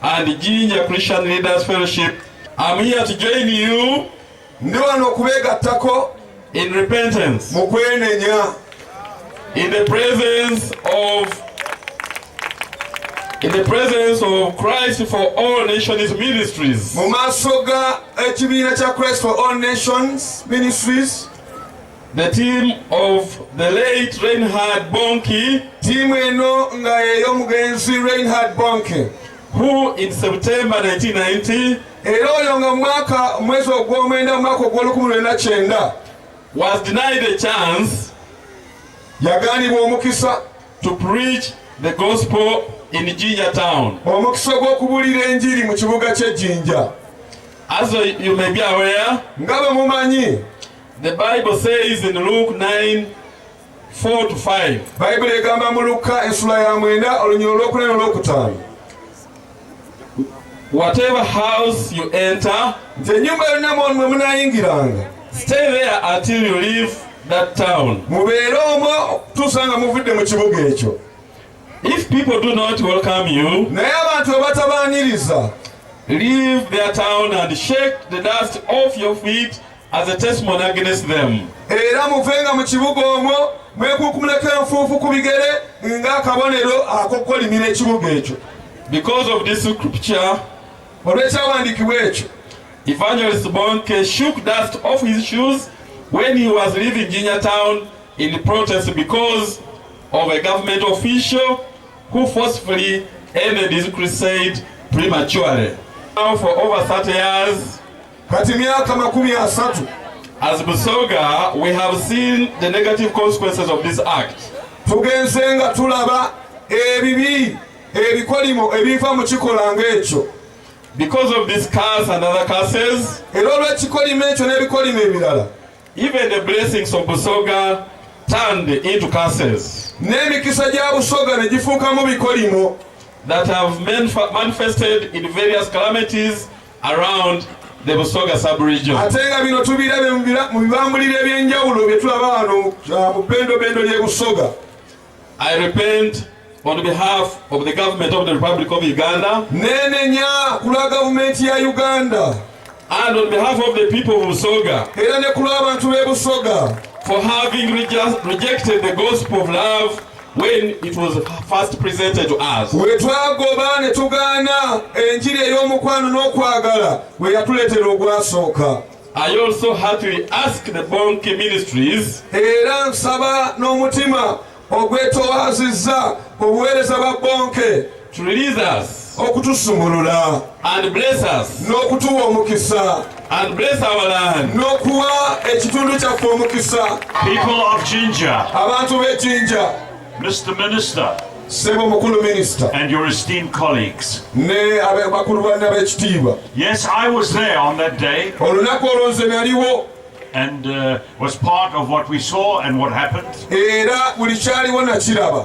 and Jinja Christian Leaders Fellowship. I'm here to join you. Ndi wano okubeegattako in repentance. Mu kwenenya. In the presence of in the presence of Christ for all nations ministries. Mu maaso ga ekibiina kya Christ for all nations ministries. The team of the late Reinhard Bonke. Timu eno nga y'omugenzi Reinhard Bonke. Who in September 1990 era oyo nga mwaka mwezi ogw'omwenda mwaka ogw'olukumi lwenda kyenda was denied a chance yaganibwa omukisa to preach the gospel in Jinja town omukisa gw'okubulira enjiri mu kibuga ky'e Jinja as you may be aware nga bwe mumanyi The Bible says in Luke 9 4 to 5. Bible egamba mu Lukka esula ya mwenda olunyiriro olw'okunene olw'okutaano. Whatever house you enter, nze ennyumba yonna mwe munaayingiranga. Stay there until you leave that town. Mubeere omwo okutuusa nga muvudde mu kibuga ekyo. If people do not welcome you, naye abantu abatabaaniriza, leave their town and shake the dust off your feet As a testimony against them. Era muvenga mu kibuga omwo mwekunkumuleko enfuufu ku bigere ng'akabonero ak'okukolimira ekibuga ekyo. Because of this scripture. Olw'ekyawandiikibwa ekyo. Evangelist Bonke shook dust off his shoes when he was leaving Jinya town in protest because of a government official who forcefully ended his crusade prematurely. Now for over 30 years, kati myaka makumi asatu As Busoga, we have seen the negative consequences of this act. tugenze nga tulaba ebibi ebikolimo ebiva mu kikolwa ng'ekyo Because of this curse and other curses, era olw'ekikolimo ekyo n'ebikolimo ebirala even the blessings of Busoga turned into curses n'emikisa gya busoga ne gifuukamu bikolimo that have manf- manifested in various calamities around the Busoga sub-region. Atenga bino tubirabe mu bibambulira ebyenjawulo bye tulaba wano ah, mu bendobendo ly'e Busoga. I repent on behalf of the government of the Republic of Uganda. Nenenya kula gavumenti ya Uganda. And on behalf of the people of Busoga. Era ne kula abantu b'e Busoga. For having rejected the gospel of love When it was first presented to us, we twagoba ne tugaana enjiri ey'omukwano n'okwagala bwe yatuleetera ogwasooka I also heartily ask the Bonke Ministries era nsaba n'omutima ogwetowaazizza obuweereza bwa Bonke To release us. okutusumulula and bless us n'okutuwa omukisa and bless our land n'okuwa ekitundu kyaffe omukisa people of jinja abantu b'ejinja mr minister sebo mukulu minister and your esteemed colleagues ne bakulu banne ab'ekitiibwa yes i was there on that day olunaku olwo nze naliwo and uh, was part of what we saw and what happened era buli kyaliwo nakiraba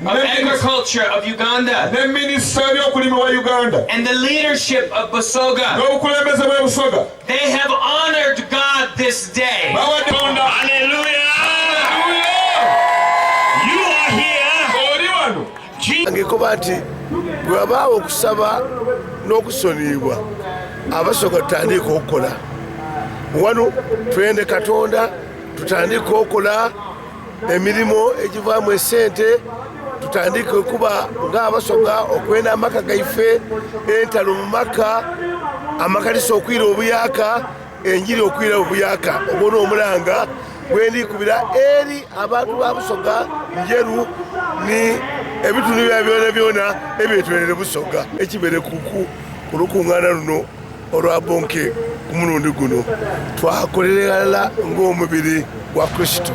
of agriculture of Uganda and the leadership of Basoga. They have honored God this day. Hallelujah. ngekuba nti bwewabaawo okusaba n'okusoniibwa abasoka tutandiika okukola wano twende katonda tutandiika okukola emirimu egivaamu esente tutandike okuba ng'abasoga okwenda amaka gaife entalo mu maka amakanisa okwira obuyaka enjiri okwira obuyaka obwona omulanga gwendikubira eri abantu ba busoga njeru ni ebitundu bya byona byona ebyetwerere busoga ekibere kuku ku lukuŋŋaana luno olwa bonke ku mulundi guno twakolererala ng'omubiri gwa kristo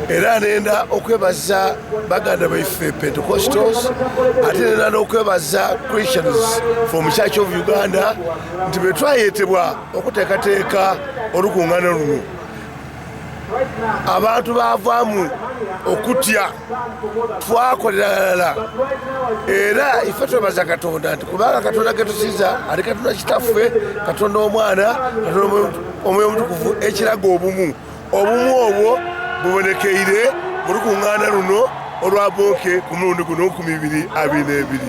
era nenda okwebaza baganda baife pentecostals ate nenda n'okwebaza christians from church of uganda nti betwayetebwa okuteekateeka olukuŋŋana luno abantu bavaamu okutya twakoleralala era ife twebaza katonda nti kubanga katonda getusiza ali katonda kitaffe katonda omwana katonda omwoyo omutukuvu ekiraga obumu obumu obwo bubonekeire mu lukuŋŋaana luno olwa booke ku mulundi guno ku mibiri abiri n'ebiri